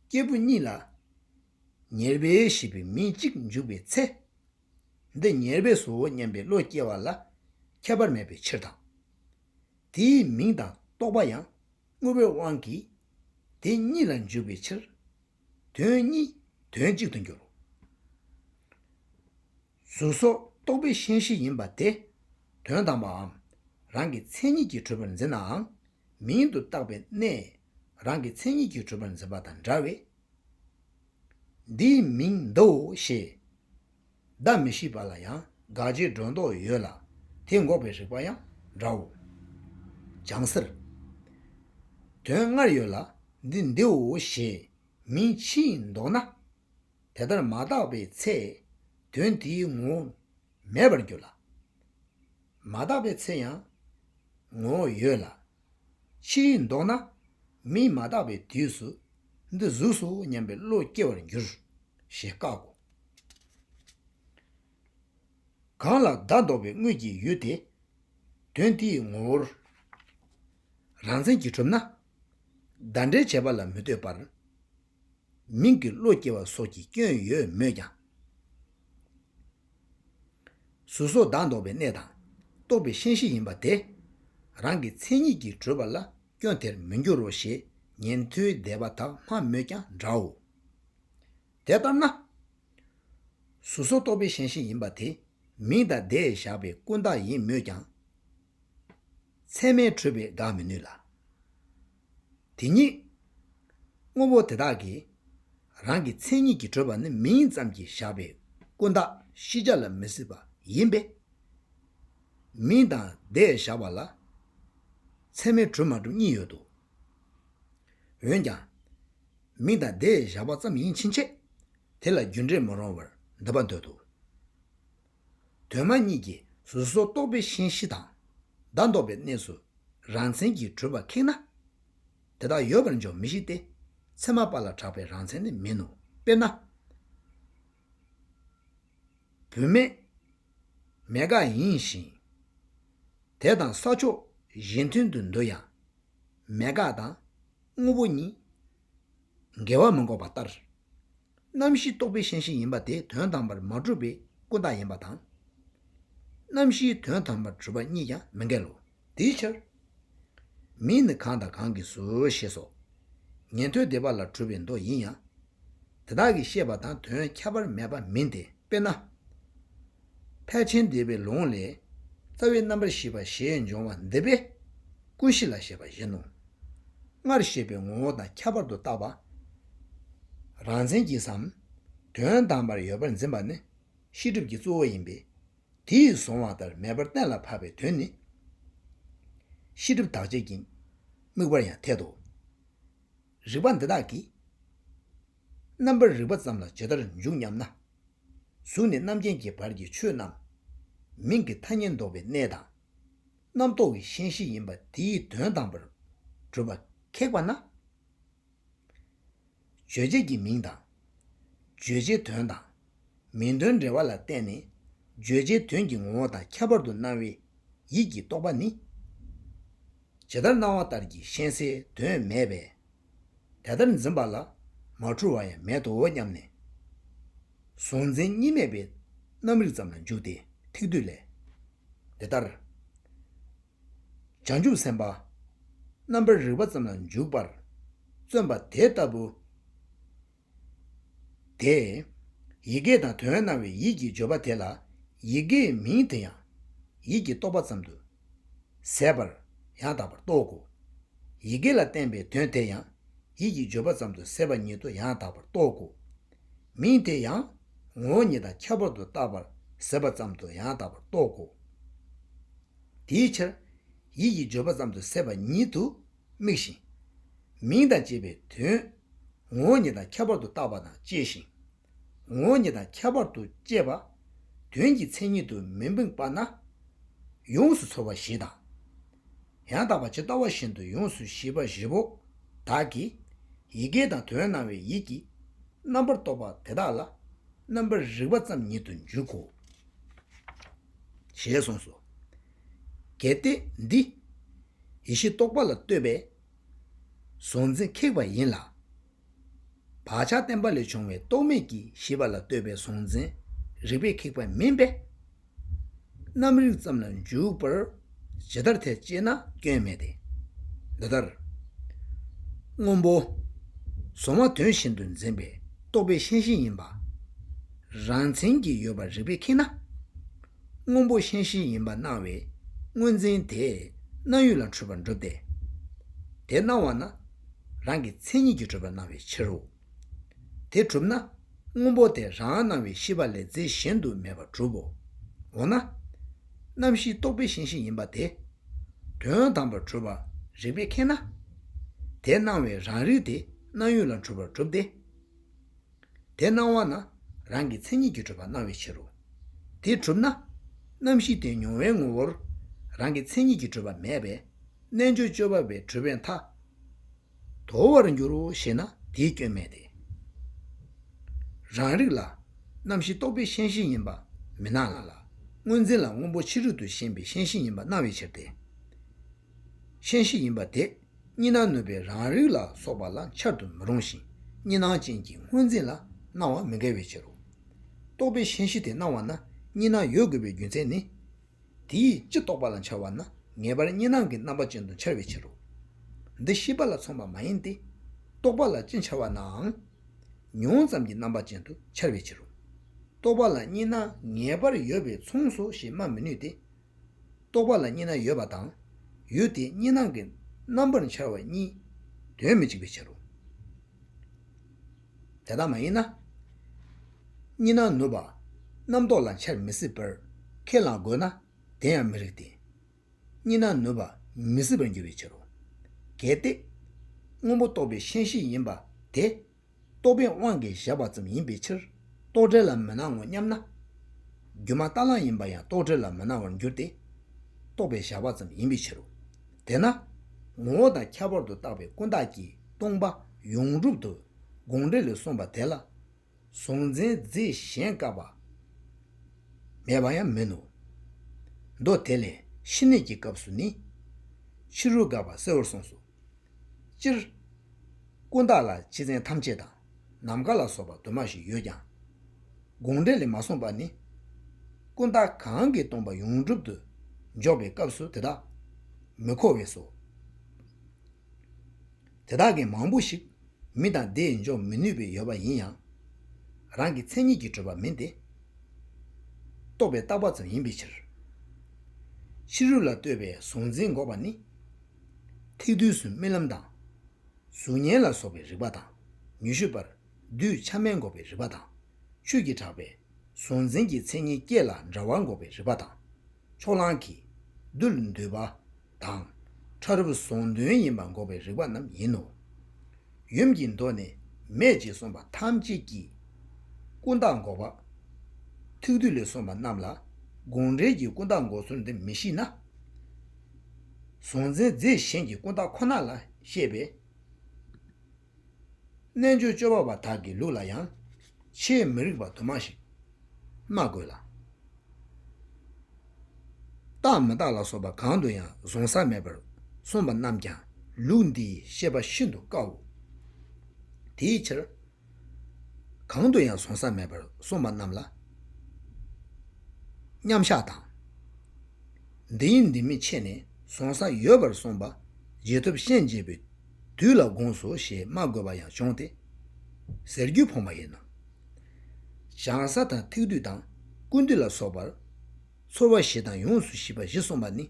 སྐྱེས་བུ་གཉིས་ལ། ཉེར་སྦས་ཞེས་པའི་མིང་གཅིག་འཇུག་པའི་ཚེ། འདི་ཉེར་སྦས་སུའོ་སྙམ་པའི་བློ་སྐྱེ་བ་ལ་ཁྱད་པར་མེད་པའི་ཕྱིར་དང། དེའི་མིང་དང་རྟོག་པ་ཡང་དངོས་པོའི་དབང་གིས་དེ་གཉིས་ལ་འཇུག་པའི་ཕྱིར། དོན་གཉིས་དོན་གཅིག་ཏུ་འགྱུར། གཟུགས་སོགས་རྟོག་པའི་ཤེས་བྱེད་ཡིན་པ་དེ་དོན་དམ་པའམ་རང་གི་མཚན་ཉིད་ཀྱིས་གྲུབ་པར་འཛིན་ནའང་མིང་དུ་བཏགས་པའི་གནས། རང་གི་མཚན་ཉིད་ཀྱིས་གྲུབ་པར་འཛིན་པ་དང་འདྲ་བས། འདིའི་མིང་འདིའོ་ཞེས། བརྡ་མི་ཤེས་པ་ལ་ཡང་དགག་བྱའི་སྒྲོ་འདོགས་ཡོད་ལ། དེ་འགོག་པའི་རིགས་པ་ཡང་འདྲའོ། བྱང་སེར། དོན་སྔར་ཡོད་ལ་འདི་འདིའོ་ཞེས་མིང་ཕྱིས་འདོགས་ན། དེ་ལྟར་མ་བཏགས་པའི་ཚེ། དོན་དེའི་ངོ་བོ་མེད་པར་འགྱུར་ལ། མ་དག་པའི་ཚེ་ཡང་ངོ་བོ་ཡོད་ལ། ཕྱིས་ལྡོག་ན་མིས་མ་བརྟགས་པའི་དུས་སུ་འདི་གཟུགས་སོ་སྙམ་པའི་བློ་སྐྱེ་བར་འགྱུར་ཞེས་བཀག་གོ། གང་ལ་བདག་ལྡོག་པའི་དངོས་ཀྱི་ཡུལ་དེ་དོན་དེའི་ངོ་བོར་རང་མཚན་གྱིས་གྲུབ་ན། བདག་འབྲལ་བྱས་པ་ལ་མི་ལྟོས་པར། མིང་གི་བློ་སྐྱེ་བ་སོགས་ཀྱི་སྐྱོན་ཡོད་མོད་ཀྱང། གཟུགས་སོགས་བདག་འདོགས་པའི་གནས་དང། རྟོག་པའི་ཤན་ཤིང་ཡིན་པ་དེ། རང་གི་མཚན་ཉིད་ཀྱིས་གྲོལ་བ་ལ་སྐྱོན་དེར་མི་འགྱུར་རོ་ཞེས་ཉན་ཐོས་སྡེ་པ་དག་སྨྲ་མོད་ཀྱང་འདྲའོ། དེ་ལྟར་ན། གཟུགས་སོགས་རྟོག་པའི་ཤན་ཤིང་ཡིན་པ་དེ། མིང་དང་བརྡས་བཞག་པའི་ཀུན་བཏགས་ཡིན་མོད་ཀྱང། ཚད་མས་གྲོལ་བས་དགག་མི་ནུས་ལ། དེ་ཉིད། དངོས་པོ་དེ་དག་གི། རང་གི་མཚན་ཉིད་ཀྱིས་གྲོལ་བ་ནི་མིང་ཙམ་གྱིས་བཞག་པའི་ཀུན་བརྟགས་ཤེས་བྱ་ལ་མི་སྲིད་པ་ཡིན་པས། མིང་དང་བརྡས་བཞག་པ་ལ། ཚད་མས་གྲུབ་མ་གྲུབ་གཉིས་ཡོད་དོ། འོན་ཀྱང། མིང་དང་བརྡས་བཞག་པ་ཙམ་ཡིན་ཕྱིན་ཆད་དེ་ལ་རྒྱུ་འབྲས་མ་རུང་བར་འདོད་པར་འདོད་དོ། གདོད་མ་གཉིས་ཀྱི་གཟུགས་སོགས་རྟོག་པའི་ཤན་བཞི་དང། བདག་འདོགས་པའི་གནས་སུ་རང་མཚན་གྱིས་གྲུབ་པ་ཁེགས་ན། དེ་དག་ཡོད་པར་འཇོག་མི་ཤེས་ཏེ། ཚད་མ་པ་ལ་གྲགས་པའི་རང་མཚན་ནི་མིན་ནོ། དཔེར་ན། བུད་མེད་མེད་དགག་ཡིན་ཞིང། དེ་དང་ས་ཕྱོགས་གཞན་མཐུན་དུ་འདོད་ཡང། མེད་དགག་དང་དངོས་པོ་གཉིས། འགལ་བ་མི་འགོག་པ་ལྟར། རྣམ་བཞིའི་རྟོག་པའི་ཤན་ཤིང་ཡིན་པ་དེ་དོན་དམ་པར་མ་གྲུབ་པའི་ཀུན་བརྟགས་ཡིན་པ་དང། རྣམ་བཞིའི་དོན་དམ་པར་གྲུབ་པ་གཉིས་ཀྱང་མི་འགལ་ལོ། དེའི་ཕྱིར། མིང་ནི་གང་དང་གང་གིས་སུ་ཞེས་སོ། ཉན་ཐོས་སྡེ་པ་ལ་གྲུབ་པའི་མདོ་ཡིན་ཡང། དེ་དག་གི་བཤད་པ་དང་དོན་ཁྱད་པར་མེད་པ་མིན་ཏེ་དཔེར་ན། ཕལ་ཆེན་འདས་པའི་ལུང་ལས། རྩ་བའི་རྣམ་པར་ཤེས་པ་ཞེས་འབྱུང་བ་འདི་པས། ཀུན་གཞི་ལ་ཞེས་པ་བཞིན་ནོ། སྔར་བཤད་པའི་ངོ་བོ་དང་ཁྱད་པར་དུ་བཏགས་པ། རང་མཚན་གྱིས་སམ། དོན་དམ་པར་ཡོད་པར་འཛིན་པ་ནི་ཤེས་སྒྲིབ་ཀྱི་གཙོ་བོ་ཡིན་པས། དེ་ཡིས་བཟུང་བ་ལྟར་མེད་པར་གཏན་ལ་ཕབ་པའི་དོན་ནི། ཤེས་སྒྲིབ་དག་བྱེད་ཀྱི་དམིགས་པར་ཡང་འཐད་དོ། རིགས་པ་འདི་དག་གིས། རྣམ་པར་རིག་པ་ཙམ་ལ་ཇི་ལྟར་འཇུག་སྙམ་ན། གཟུགས་ནས་རྣམ་མཁྱེན་གྱི་བར་གྱི་ཆོས་རྣམས། མིང་གི་ཐ་སྙད་འདོགས་པའི་གནས་དང། རྣམ་རྟོག་གི་ཤན་ཤེས་ཡིན་པ་དེ་ཡི་དོན་དམ་པར་གྲུབ་པ་ཁེགས་པ་ན། རྗོད་བྱེད་ཀྱི་མིང་དང། བརྗོད་བྱའི་དོན་དང། མིང་དོན་འབྲེལ་བ་ལ་བརྟེན་ནས། བརྗོད་བྱའི་དོན་གྱི་ངོ་བོ་དང་ཁྱད་པར་དུ་སྣང་བའི་ཡིད་ཀྱི་རྟོག་པ་ནི། ཇི་ལྟར་སྣང་བ་ལྟར་གྱི་ཤན་སེལ་དོན་མེད་པས། དེ་ལྟར་འཛིན་པ་ལ་མ་འཁྲུལ་བ་ཡང་མེད་དོ་སྙམ་ནས། གཟུང་འཛིན་གཉིས་མེད་པའི་རྣམ་རིག་ཙམ་ལ་འཇུག་སྟེ་ཐིག་བསྡུས་ལས། འདི་ལྟར། བྱང་ཆུབ་སེམས་དཔའ་རྣམ་པར་རིག་པ་ཙམ་ལ་འཇུག་པར་བརྩོན་པ་དེ་ལྟ་བུ། དེ། ཡི་གེ་དང་དོན་སྣང་བའི་ཡིད་ཀྱིས་བརྗོད་པ་དེ་ལ། ཡི་གེའི་མིང་དེ་ཡང། ཡིད་ཀྱིས་རྟོགས་པ་ཙམ་དུ། ཟད་པར། ཡང་དག་པར་རྟོག་གོ། ཡི་གེ་ལ་བརྟེན་པའི་དོན་དེ་ཡང། ཡིད་ཀྱིས་བརྗོད་པ་ཙམ་དུ་ཟད་པ་ཉིད་དུ་ཡང་དག་པར་རྟོག་གོ། མིང་དེ་ཡང། ངོ་བོ་ཉིད་དང་ཁྱད་པར་དུ་བཏགས་པར་ཟད་པ་ཙམ་དུ་ཡང་དག་པར་རྟོག་གོ། དེའི་ཕྱིར། ཡིད་ཀྱིས་བརྗོད་པ་ཙམ་དུ་ཟད་པ་ཉིད་དུ་དམིགས་ཤིང། མིང་དང་བཅས་པའི་དོན། ངོ་བོ་ཉིད་དང་ཁྱད་པར་དུ་བཏགས་པ་དང་བཅས་ཤིང། ངོ་བོ་ཉིད་དང་ཁྱད་པར་དུ་བཅས་པ། དོན་གྱི་མཚན་ཉིད་དུ་མི་དམིགས་པ་ན། ཡོངས་སུ་ཚོལ་བ་ཞེས་དང། ཡང་དག་པ་ཇི་ལྟ་བ་བཞིན་དུ་ཡོངས་སུ་ཤེས་པ་བཞི་པོ་དག་གིས། ཡི་གེ་དང་དོན་སྣང་བའི་ཡིད་ཀྱིས་རྣམ་པར་རྟོག་པ་དེ་དག་ལ་རྣམ་པར་རིག་པ་ཙམ་ཉིད་དུ་འཇུག་གོ། ཞེས་གསུངས་སོ། གལ་ཏེ་འདི། ཡེ་ཤེས་རྟོགས་པ་ལ་ལྟོས་པའི། གཟུང་འཛིན་ཁེགས་པ་ཡིན་ལ། བག་ཆགས་བརྟན་པ་ལས་བྱུང་བའི་རྟོག་མེད་ཀྱི་ཤེས་པ་ལ་ལྟོས་པའི་གཟུང་འཛིན་རིག་པས་ཁེགས་པ་མིན་པས། རྣམ་རིག་ཙམ་ལ་འཇུག་པར། ཇི་ལྟར་ཐལ་ཅེ་ན་སྐྱོན་མེད་དེ། འདི་ལྟར། སྔོན་པོ། གཟུང་བ་དོན་བཞིན་དུ་འཛིན་པའི་རྟོག་པའི་ཤན་ཤིང་ཡིན་པ། རང་མཚན་གྱི་ཡོད་པར་རིག་པས་མཁྱེན་ན། སྔོན་པོ་ཤན་ཤིང་ཡིན་པར་སྣང་བའི་དངོས་འཛིན་དེས་སྣང་ཡུལ་ལ་འཁྲུལ་པར་འགྲུབ་སྟེ། དེ་སྣང་བ་ན་རང་གི་མཚན་ཉིད་ཀྱིས་གྲུབ་པར་སྣང་བའི་ཕྱིར་རོ། དེ་གྲུབ་ན། སྔོན་པོ་དེ་རང་སྣང་བའི་ཤེས་པ་ལས་རྫས་གཞན་དུ་མེད་པར་གྲུབ་བོ། འོ་ན། རྣམ་ཤེས་རྟོག་པའི་ཤེས་བཞིན་ཡིན་པ་དེ། དོན་དམ་པར་གྲུབ་པར་རིགས་པས་མཁྱེན་ན། དེ་སྣང་བའི་རང་རིག་དེ་སྣང་ཡུལ་ལ་འཁྲུལ་པར་གྲུབ་སྟེ། དེ་སྣང་བ་ན་རང་གི་མཚན་ཉིད་ཀྱིས་གྲུབ་པར་སྣང་བའི་ཕྱིར་རོ། དེ་གྲུབ་ན། རྣམ་ཤེས་དེ་མྱོང་བའི་ངོ་བོར་རང་གི་མཚན་ཉིད་ཀྱིས་གྲུབ་པ་མེད་པས་རྣལ་འབྱོར་སྤྱོད་པ་བའི་གྲུབ་པའི་མཐའ། དོར་བར་འགྱུར་རོ་ཞེ་ན་དེའི་སྐྱོན་མེད་དེ། རང་རིག་ལ། རྣམ་ཤེས་རྟོག་པའི་ཤེས་བཞིན་ཡིན་པ་མི་སྣང་ལ། དངོས་འཛིན་ལ་སྔོན་པོ་ཕྱི་རོལ་དུ་ཞེན་པའི་ཤེས་བཞིན་ཡིན་པ་སྣང་བའི་ཕྱིར་ཏེ། ཤེས་བཞིན་ཡིན་པ་དེ་གཉིས་སྣང་ནུས་པའི་རང་རིག་ལ་སོགས་པ་ལ་འཆར་དུ་མི་རུང་ཞིང་གཉིས་སྣང་ཅན་གྱི་དངོས་འཛིན་ལ་སྣང་བ་མི་འགལ་བའི་ཕྱིར་རོ། རྟོག་པའི་ཤེས་བཞིན་དེ་སྣང་བ་ན་གཉིས་སྣང་ཡོད་དགོས་པའི་རྒྱུ་མཚན་ནི། དེ་ཡིས་ཅི་རྟོགས་པ་ལ་འཆར་བ་ན་ངེས་པར་གཉིས་སྣང་གི་རྣམ་པ་ཅན་དུ་འཆར་བའི་ཕྱིར་རོ། འདི་ཤེས་པ་ལ་མཚུངས་པ་མ་ཡིན་ཏེ། རྟོགས་པ་ལ་ཅི་འཆར་བ་ནའང། མྱོང་ཙམ་གྱི་རྣམ་པ་ཅན་དུ་འཆར་བའི་ཕྱིར་རོ། རྟོགས་པ་ལ་གཉིས་སྣང་ངེས་པར་ཡོད་པས་མཚུངས་སོ་ཞེས་སྨྲ་མི་ནུས་ཏེ། རྟོགས་པ་ལ་གཉིས་སྣང་ཡོད་པ་དང། ཡུལ་དེ་གཉིས་སྣང་གི་རྣམ་པར་འཆར་བ་གཉིས་དོན་མི་གཅིག་པའི་ཕྱིར་རོ། དེ་ལྟར་མ་ཡིན་ན། གཉིས་སྣང་ནུབ་པ། རྣམ་རྟོག་ལ་འཆར་མི་སྲིད་པར་ཁས་བླངས་དགོས་ན་དེ་ཡང་མི་རིགས་ཏེ། གཉིས་སྣང་ནུབ་པ་མི་སྲིད་པར་འགྱུར་བའི་ཕྱིར་རོ། གལ་ཏེ། སྔོན་པོ་རྟོགས་པའི་ཤན་བཞི་ཡིན་པ་དེ། རྟོགས་པའི་དབང་གིས་བཞག་པ་ཙམ་ཡིན་པའི་ཕྱིར་རྟོག་བྲལ་ལ་མི་སྣང་ངོ་སྙམ་ན། སྒྱུ་མ་རྟ་གླང་ཡིན་པ་ཡང་རྟོག་བྲལ་ལ་མི་སྣང་བར་འགྱུར་ཏེ། རྟོགས་པའི་བཞག་པ་ཙམ་ཡིན་པའི་ཕྱིར་རོ། དེས་ན། ངོ་བོ་དང་ཁྱད་པར་དུ་བཏགས་པའི་ཀུན་བཏགས་ཀྱིས་སྟོང་པ་ཡོངས་གྲུབ་ཏུ་དགོངས་འགྲེལ་ལས་གསུངས་པ་དེ་ལ་གཟུང་འཛིན་རྫས་གཞན་བཀག་པ་མེད་པ་ཡང་མིན་ནོ། མདོ་དེ་ལས་ཕྱི་གནས་ཀྱི་སྐབས་སུ་ནི། ཕྱི་རོལ་བཀག་པ་གསལ་བོར་གསུངས་སོ། སྤྱིར། ཀུན་བཏགས་ལ་སྤྱི་མཚན་ཐམས་ཅད་དང། ནམ་མཁའ་ལ་སོགས་པ་དུ་མ་ཞིག་ཡོད་ཀྱང། དགོངས་འགྲེལ་ལས་མ་གསུངས་པ་ནི། ཀུན་བརྟགས་གང་གིས་སྟོང་པ་ཡོངས་གྲུབ་ཏུ་འཇོག་པའི་སྐབས་སུ་དེ་དག་མི་མཁོ་བས་སོ། དེ་དག་གི་མང་པོ་ཞིག་མི་དང་སྡེས་འཇོག་མི་ནུས་པའི་ཡོད་པ་ཡིན་ཡང། རང་གི་མཚན་ཉིད་ཀྱིས་གྲུབ་པ་མིན་ཏེ། རྟོགས་པའི་བརྟགས་པ་ཙམ་ཡིན་པའི་ཕྱིར། ཕྱི་རོལ་ལ་ལྟོས་པའི་གཟུང་འཛིན་འགོག་པ་ནི། ཐེག་བསྡུས་སུ་རྨི་ལམ་དང། གཟུགས་བརྙན་ལ་སོགས་པའི་རིག་པ་དང། ཉི་ཤུ་པར། གདུལ་བྱ་མན་འགོག་པའི་རིག་པ་དང། ཆོས་ཀྱི་གྲགས་པས། གཟུང་འཛིན་གྱི་མཚན་ཉིད་བསྐྱེད་ལ་འདྲ་བ་འགོག་པའི་རིག་པ་དང། ཕྱོགས་གླང་གིས། རྡུལ་འདུས་པ། དང། ཕྲ་རབ་གཟུང་དོན་ཡིན་པ་འགོག་པའི་རིག་པ་རྣམས་ཡིན་ནོ། ཡུམ་གྱི་མདོ་ནི། མེད་ཅེས་གསུངས་པ་ཐམས་ཅད་ཀྱི། ཀུན་བརྟགས་འགོག་པ། ཐུགས་རྡུལ་ལས་གསུངས་པ་རྣམས་ལ། དགོངས་འགྲེལ་གྱི་ཀུན་བརྟགས་འགོག་ཚུལ་འདི་མི་ཤེས་ན། གཟུང་འཛིན་རྫས་གཞན་གྱི་ཀུན་བརྟགས་ཁོ་ན་ལ་ཤེས་པས། རྣལ་འབྱོར་སྤྱོད་པ་བ་དག་གི་ལུགས་ལ་ཡང་ཆེས་མི་རིགས་པ་དུ་མ་ཞིག་སྨྲ་དགོས་ལ། རྟག་མི་རྟག་ལ་སོགས་པ་གང་དུ་ཡང་གཟུང་ས་མེད་པར་གསུངས་པ་རྣམས་ཀྱང་ལུགས་འདིའི་ཤེས་པ་ཤིན་ཏུ་དཀའོ། དེའི་ཕྱིར། གང་དུ་ཡང་ཟོང་ས་མེད་པར་སོང་པ་རྣམས་ལ། མཉམ་གཞག་དང། འདི་ཡིན་འདི་མིན་ཕྱེ་ནས་ཟོང་ས་ཡོད་པར་སོང་པ་རྗེས་ཐོབ་ཤན་འབྱེད་པའི་དུས་ལ་དགོངས་སོ་ཞེས་སྨྲ་དགོས་པ་ཡང་འབྱུང་སྟེ། ཟེར་རྒྱུ་ཕོངས་པ་ཡིན་ནོ། སྦྱང་ས་དང་ཐིག་དུས་དང་ཀུན་དུས་ལ་སོགས་པར། ཚོར་བ་བཞི་དང་ཡོངས་སུ་ཤེས་པ་བཞི་གསུངས་པ་ནི།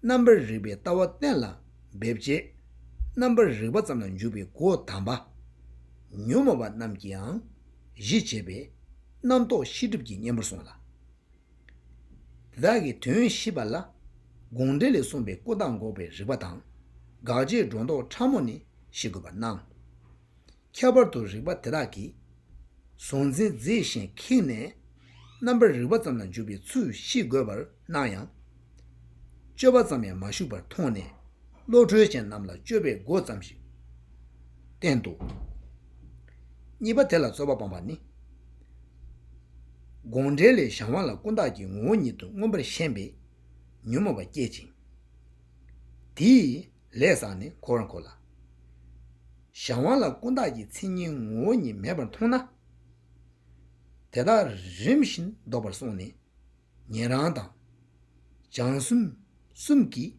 རྣམ་པར་རིག་པའི་ལྟ་བ་གཏན་ལ་འབེབས་བྱེད། རྣམ་པར་རིག་པ་ཙམ་ལ་འཇུག་པའི་སྒོ་དམ་པ། ཉོན་མོངས་པ་རྣམས་ཀྱིའང་གཞི་བྱས་པས། རྣམ་རྟོག་ཤེས་སྒྲིབ་ཀྱི་གཉེན་པོར་གསུངས་ལ། བདག་གི་དོན་ཤེས་པ་ལ། དགོངས་འགྲེལ་ལས་གསུངས་པའི་ཀུན་བརྟགས་འགོག་པའི་རིག་པ་དང། དགག་བྱའི་སྒྲོ་འདོགས་ཕྲ་མོ་ནི་ཤེས་དགོས་པར་སྣང། ཁྱད་པར་དུ་རིག་པ་དེ་དག་གིས། གཟུང་འཛིན་རྫས་གཞན་ཁེགས་ནས། རྣམ་པར་རིག་པ་ཙམ་ལ་འཇུག་པའི་ཚུལ་ཤེས་དགོས་པར་སྣང་ཡང། སྤྱོད་པ་ཙམ་ཡང་མ་ཞུགས་པར་མཐོང་ནས་བློ་གྲོས་ཅན་རྣམས་ལ་སྤྱོད་པའི་སྒོ་ཙམ་ཞིག་བསྟན་ཏོ། གཉིས་པ་དེ་ལ་རྩོལ་བ་སྤངས་པ་ནི། དགོངས་འགྲེལ་ལས་བྱང་བ་ལ་ཀུན་བརྟགས་ཀྱི་ངོ་བོ་ཉིད་དུ་མངོན་པར་ཞེན་པས་ཉོན་མོངས་པ་བསྐྱེད་ཅིང། དེའི་ལས་བསགས་ནས་གོ་བར་འཁོ་ལ། གཞན་དབང་ལ་ཀུན་བརྟགས་ཀྱི་མཚན་ཉིད་ངོ་བོ་ཉིད་མེད་པར་མཐོང་ན། དེ་དག་རིམ་བཞིན་བཟློག་པར་སོང་ནས། ཉན་རང་དང། སྦྱང་གསུམ་གསུམ་གྱིས།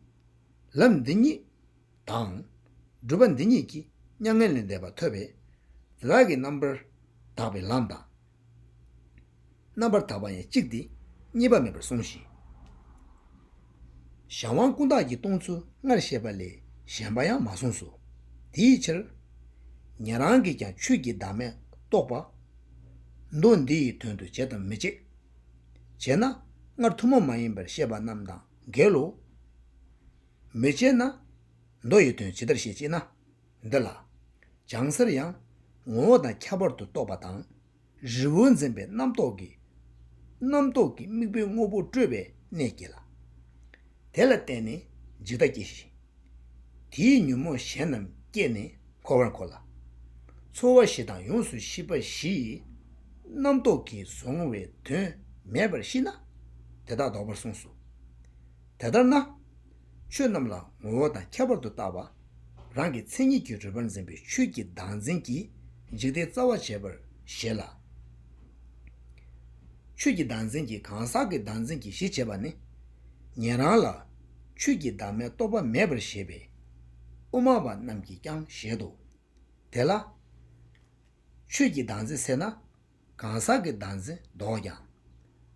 ལམ་འདི་ཉིད་དང། སྒྲུབ་པ་འདི་ཉིད་ཀྱིས་མྱ་ངན་ལས་འདས་པ་ཐོབ་པས། རྫས་བདག་གི་རྣམ་པར་དག་པའི་ལམ་དང། རྣམ་པར་དག་པ་ཡང་གཅིག་སྟེ་གཉིས་པ་མེད་པར་གསུངས་ཤིང། གཞན་དབང་ཀུན་བརྟགས་ཀྱི་སྟོང་ཚུལ་སྔར་བཤད་པ་ལས་གཞན་པ་ཡང་མ་གསུངས་སོ། དེའི་ཕྱིར། ཉན་རང་གིས་ཀྱང་ཆོས་ཀྱི་བདག་མེད་རྟོགས་པ། མདོ་འདི་ཡི་དོན་དུ་བྱེད་དམ་མི་བྱེད། བྱེད་ན་སྔར་ཐུན་མོང་མ་ཡིན་པར་བཤད་པ་རྣམས་དང་འགལ་ལོ། མི་བྱེད་ན། མདོ་ཡི་དོན་ཇི་ལྟར་བཤད་ཅེ་ན། འདི་ལ། སྦྱང་སར་ཡང། ངོ་བོ་དང་ཁྱད་པར་དུ་རྟོགས་པ་དང། རི་བོ་འཛིན་པའི་རྣམ་རྟོག་གིས། རྣམ་རྟོག་གི་དམིགས་པའི་དངོས་པོ་སྤྲོས་པའི་གནས་བསྐྱེད་ལ། དེ་ལ་བརྟེན་ནས་འཇིག་ལྟ་སྐྱེ་ཞིང། དེའི་ཉོན་མོངས་གཞན་རྣམས་བསྐྱེད་ནས་འཁོར་བར་འཁོར་ལ། ཚོར་བ་བཞི་དང་ཡོངས་སུ་ཤེས་པ་བཞི་ཡི། རྣམ་རྟོག་གིས་བཟུང་བའི་དོན་མེད་པར་ཤེས་ན། དེ་དག་ལྡོག་པར་གསུངས་སོ། དེ་ལྟར་ན། ཆོས་རྣམས་ལ་ངོ་བོ་དང་ཁྱད་པར་དུ་བཏགས་པ། རང་གི་མཚན་ཉིད་ཀྱི་རུས་པར་འཛིན་པའི་ཆོས་ཀྱི་བདག་འཛིན་གྱིས་འཇིག་རྟེན་རྩ་བ་བྱས་པར་བཞེད་ལ། ཆོས་ཀྱི་བདག་འཛིན་གྱིས་གང་ཟག་གི་བདག་འཛིན་གྱི་གཞི་བྱེད་པ་ནི། ཉན་རང་ལ། ཆོས་ཀྱི་བདག་མེད་རྟོགས་པ་མེད་པར་བཞེད་པས། དབུ་མ་པ་རྣམས་ཀྱིས་ཀྱང་བཞེད་དོ། དེ་ལ། ཆོས་ཀྱི་བདག་འཛིན་ཟེར་ན། གང་ཟག་གི་བདག་འཛིན་བཟློག་ཀྱང།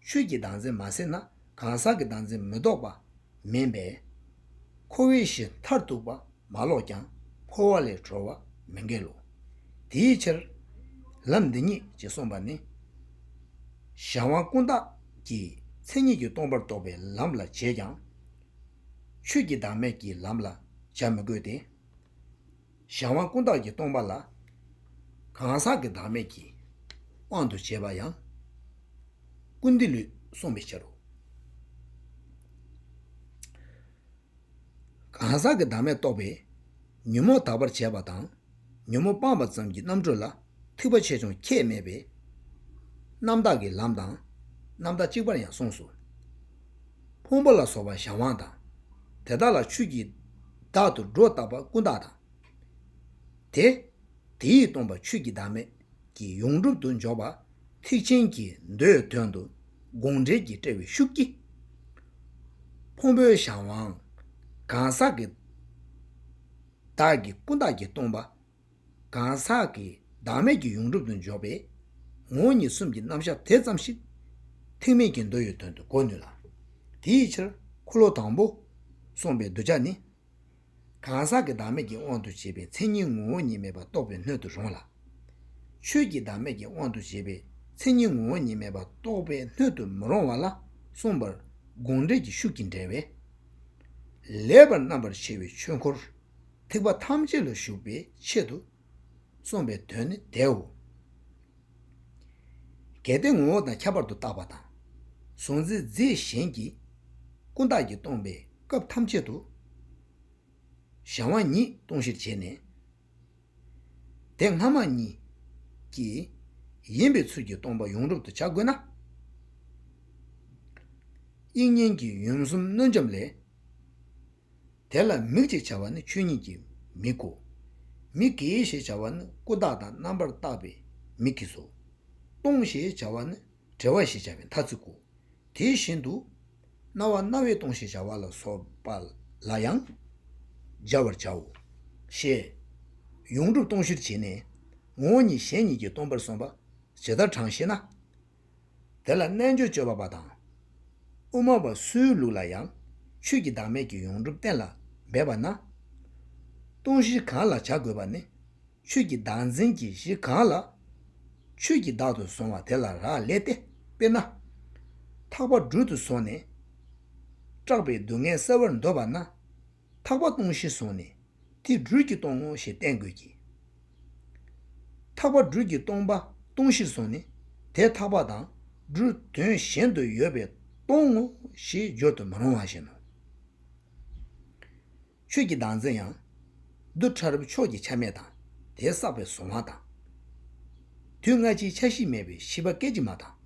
ཆོས་ཀྱི་བདག་འཛིན་མ་སྲིད་ན་གང་ཟག་གི་བདག་འཛིན་མི་བཟློག་པ་མིན་པས། འཁོར་བའི་གཞི་མཐར་ཐུག་པ་མ་བཟློག་ཀྱང་འཁོར་བ་ལས་གྲོལ་བ་མི་འགལ་ལོ། དེའི་ཕྱིར། ལམ་འདི་ཉིད་ཅེས་གསུངས་པ་ནི། གཞན་དབང་ཀུན་བཏགས་ཀྱི་མཚན་ཉིད་ཀྱིས་སྟོང་པར་རྟོགས་པའི་ལམ་ལ་བྱེད་ཀྱང། ཆོས་ཀྱི་བདག་མེད་ཀྱི་ལམ་ལ་བྱ་མི་དགོས་ཏེ། གཞན་དབང་ཀུན་བརྟགས་ཀྱིས་སྟོང་པ་ལ། གང་ཟག་གི་བདག་མེད་ཀྱི་དབང་དུ་བྱས་པ་ཡང། ཀུན་བདེ་ལུས་བསྲུང་བའི་ཕྱིར་རོ། གང་ཟག་གི་བདག་མེད་རྟོགས་པའི། ཉོན་མོངས་དག་པར་བྱས་པ་དང། ཉོན་མོངས་སྤངས་པ་ཙམ་གྱི་རྣམ་གྲོལ་ལ། ཐུབ་པ་ཆེ་ཆུང་ཁྱད་མེད་པའི། རྣམ་དག་གི་ལམ་དང་རྣམ་དག་གཅིག་པར་ཡང་གསུངས་སོ། ཕུང་པོ་ལ་སོགས་པ་གཞན་དབང་དང། དེ་དག་ལ་ཆོས་ཀྱིས་བདག་ཏུ་སྒྲོ་བཏགས་པ་ཀུན་བཏགས་དང། དེ་དེ་ཡིས་སྟོང་པ་ཆོས་ཀྱི་བདག་མེད་ཀྱི་ཡོངས་གྲུབ་ཏུ་འཇོག་པ་ཐེག་ཆེན་གྱི་མདོའི་དོན་དུ་དགོངས་འགྲེལ་གྱི་དཔྲལ་བའི་ཤུགས་ཀྱིས། ཕུང་པོའི་གཞན་དབང་གང་ཟག་གི་བདག་གི་ཀུན་བཏགས་ཀྱི་སྟོང་པ། གང་ཟག་གི་བདག་མེད་ཀྱི་ཡོངས་གྲུབ་ཏུ་འཇོག་པའི་ངོ་བོ་ཉིད་གསུམ་གྱི་རྣམ་གཞག་དེ་ཙམ་ཞིག་ཐེག་མེད་ཀྱི་འདོད་ཡོད་དོན་དུ་གོ་ནུས་ལ། དེའི་ཕྱིར་འཁོར་ལོ་དང་པོ་གསུངས་པའི་གདུལ་བྱ་ནི། གང་ཟག་གི་བདག་མེད་ཀྱི་དབང་དུ་བྱས་པའི་མཚན་ཉིད་ངོ་བོ་ཉིད་མེད་པར་རྟོགས་པའི་སྣོད་དུ་རུང་ལ། ཆོས་ཀྱི་བདག་མེད་ཀྱི་དབང་དུ་བྱས་པའི་མཚན་ཉིད་ངོ་བོ་ཉིད་མེད་པར་རྟོགས་པའི་སྣོད་དུ་མི་རུང་བ་ལ་གསུངས་པར་དགོངས་འགྲེལ་གྱི་ཤུགས་ཀྱིས་འགྲེལ་བས། ལེགས་པར་རྣམ་པར་ཕྱེ་བའི་ཆོས་འཁོར། ཐེག་པ་ཐམས་ཅད་ལ་ཞུགས་པའི་ཆེད་དུ་གསུངས་པའི་དོན་ནི་དེའོ། གལ་ཏེ་ངོ་བོ་དང་ཁྱད་པར་དུ་བཏགས་པ་དང། གཟུང་འཛིན་རྫས་གཞན་གྱིས་ཀུན་བཏགས་ཀྱིས་སྟོང་པའི་སྐབས་ཐམས་ཅད་དུ། གཞན་དབང་ཉིད་སྟོང་གཞིར་བྱས་ནས། དེ་སྔ་མ་གཉིས་ཀྱི་ཡིན་པའི་ཚུལ་གྱིས་སྟོང་པ་ཡོངས་གྲུབ་ཏུ་བྱ་དགོས་ན། དབྱིག་གཉེན་གྱི་ཡུམ་གསུམ་གནོད་འབྱམས་ལས། དེ་ལ་མིག་ཅེས་བྱ་བ་ནི་ཆོས་ཉིད་ཀྱི་མིག་གོ། མིག་གི་ཞེས་བྱ་བ་ནི་ཀུན་བརྟགས་དང་རྣམ་པར་བརྟགས་པའི་མིག་གིས་སོ། སྟོང་ཞེས་བྱ་བ་ནི་བྲལ་བ་ཞེས་བྱ་བའི་ཐ་ཚིག་གོ། དེ་བཞིན་དུ་རྣ་བ་རྣ་བས་སྟོང་ཞེས་བྱ་བ་ལ་སོགས་པ་ལ་ཡང་སྦྱར་བར་བྱའོ། ཞེས་ཡོངས་གྲུབ་སྟོང་གཞིར་བྱས་ནས། ངོ་བོ་ཉིད་གཞན་ཉིད་ཀྱིས་སྟོང་པར་སོམས་པ་ཇི་ལྟར་དྲང་ཞེ་ན། དེ་ལ་རྣལ་འབྱོར་སྤྱོད་པ་པ་དང། དབུ་མ་པ་སུའི་ལུགས་ལ་ཡང། ཆོས་ཀྱི་བདག་མེད་ཀྱི་ཡོངས་གྲུབ་གཏན་ལ་འབེབས་པ་ན། སྟོང་གཞི་གང་ལ་བྱ་དགོས་པ་ནི། ཆོས་ཀྱི་བདག་འཛིན་གྱི་གཞི་གང་ལ། ཆོས་ཀྱི་བདག་ཏུ་བཟུང་བ་དེ་ལ་རག་ལས་ཏེ་དཔེར་ན། ཐག་པ་སྦྲུལ་དུ་བཟུང་ནས། སྐྲག་པའི་སྡུག་བསྔལ་བསལ་བར་འདོད་པ་ན། ཐག་པ་སྟོང་ཞེས་བཟུང་ནས་དེ་སྦྲུལ་གྱིས་སྟོང་ངོ་ཞེས་བསྟན་དགོས་ཀྱི། ཐག་པ་སྦྲུལ་གྱིས་སྟོང་པ་སྟོང་ཞེས་བཟུང་ནས་དེ་ཐག་པ་དང་སྦྲུལ་དོན་གཞན་དུ་ཡོད་པས་སྟོང་ངོ་ཞེས་སྦྱོར་དུ་མི་རུང་བ་བཞིན་ནོ། ཆོས་ཀྱི་གདངས་ཚད་ཡང། རྡུལ་ཕྲ་རབ་ཕྱོགས་ཀྱི་ཆ་མེད་དང་དེ་བསགས་པའི་གཟུང་བ་དང། དུས་སྔ་ཕྱིའི་ཆ་ཤེས་མེད་པའི་ཤེས་པ་སྐད་ཅིག་མ་དང།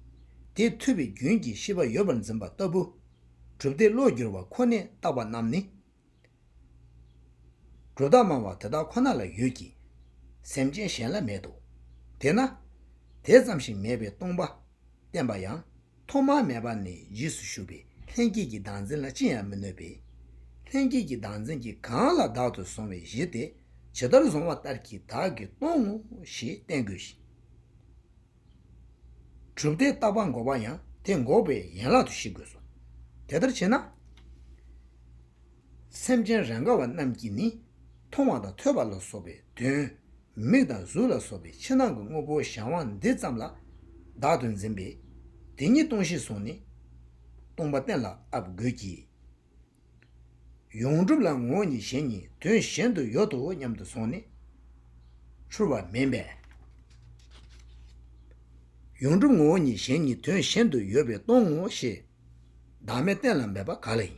དེས་ཐོས་པའི་རྒྱུན་གྱིས་ཤེས་པ་ཡོད་པར་འཛིན་པ་ལྟ་བུ། གྲུབ་སྟེ་བློ་བསྒྱུར་བ་ཁོ་ནས་བཏགས་པ་རྣམས་ནི། གྲུབ་རྟགས་མང་བ་དེ་དག་ཁོ་ན་ལ་ཡོད་ཀྱི། སེམས་ཅན་གཞན་ལ་མེད་དོ། དེས་ན། དེ་ཙམ་ཞིག་མེད་པའི་སྟོང་པ་བསྟན་པ་ཡང། ཐོག་མ་མེད་པ་ནས་རྗེས་སུ་ཞུགས་པའི་ལྷན་སྐྱེས་ཀྱི་བདག་འཛིན་ལ་ཅི་ཡང་མི་གནོད་པས། ལྷན་སྐྱེས་ཀྱི་བདག་འཛིན་གྱིས་གང་ལ་བདག་ཏུ་བཟུང་བའི་གཞི་དེ་ཇི་ལྟར་བཟུང་བ་ལྟར་གྱིས་བདག་གིས་སྟོང་ངོ་ཞེས་བསྟན་དགོས་ཤིང། གྲུབ་མཐའི་རྟག་པ་འགོག་པ་ཡང་དེ་འགོག་པའི་ཡན་ལག་ཏུ་བཞེད་དགོས་སོ། དེ་ལྟར་བྱས་ན། སེམས་ཅན་རེས་འགའ་བ་རྣམས་ཀྱིས་ནི་མཐོང་བ་དང་ཐོས་པ་ལ་སོགས་པའི་དོན། མིག་དང་གཟུགས་ལ་སོགས་པའི་ཕྱི་ནང་གི་དངོས་པོ་གཞན་དབང་འདི་ཙམ་ལ་བདག་ཏུ་འཛིན་པས། དེ་ཉིད་སྟོང་ཞེས་སོགས་ནས་སྟོང་པ་གཏན་ལ་ཨབ་དགོས་ཀྱི། ཡོངས་གྲུབ་ལ་ངོ་གཉིས་གཞན་གཉིས་དོན་གཞན་དུ་ཡོད་དོ་སྙམ་དུ་སོང་ནས། འཁྲུལ་བ་མིན་པས། ཡོངས་གྲུབ་ངོ་གཉིས་གཞན་གཉིས་དོན་གཞན་དུ་ཡོད་པས་སྟོང་ངོ་ཞེས་བདག་མེད་གཏན་ལ་འབེབས་པ་ག་ལ་ཡིན།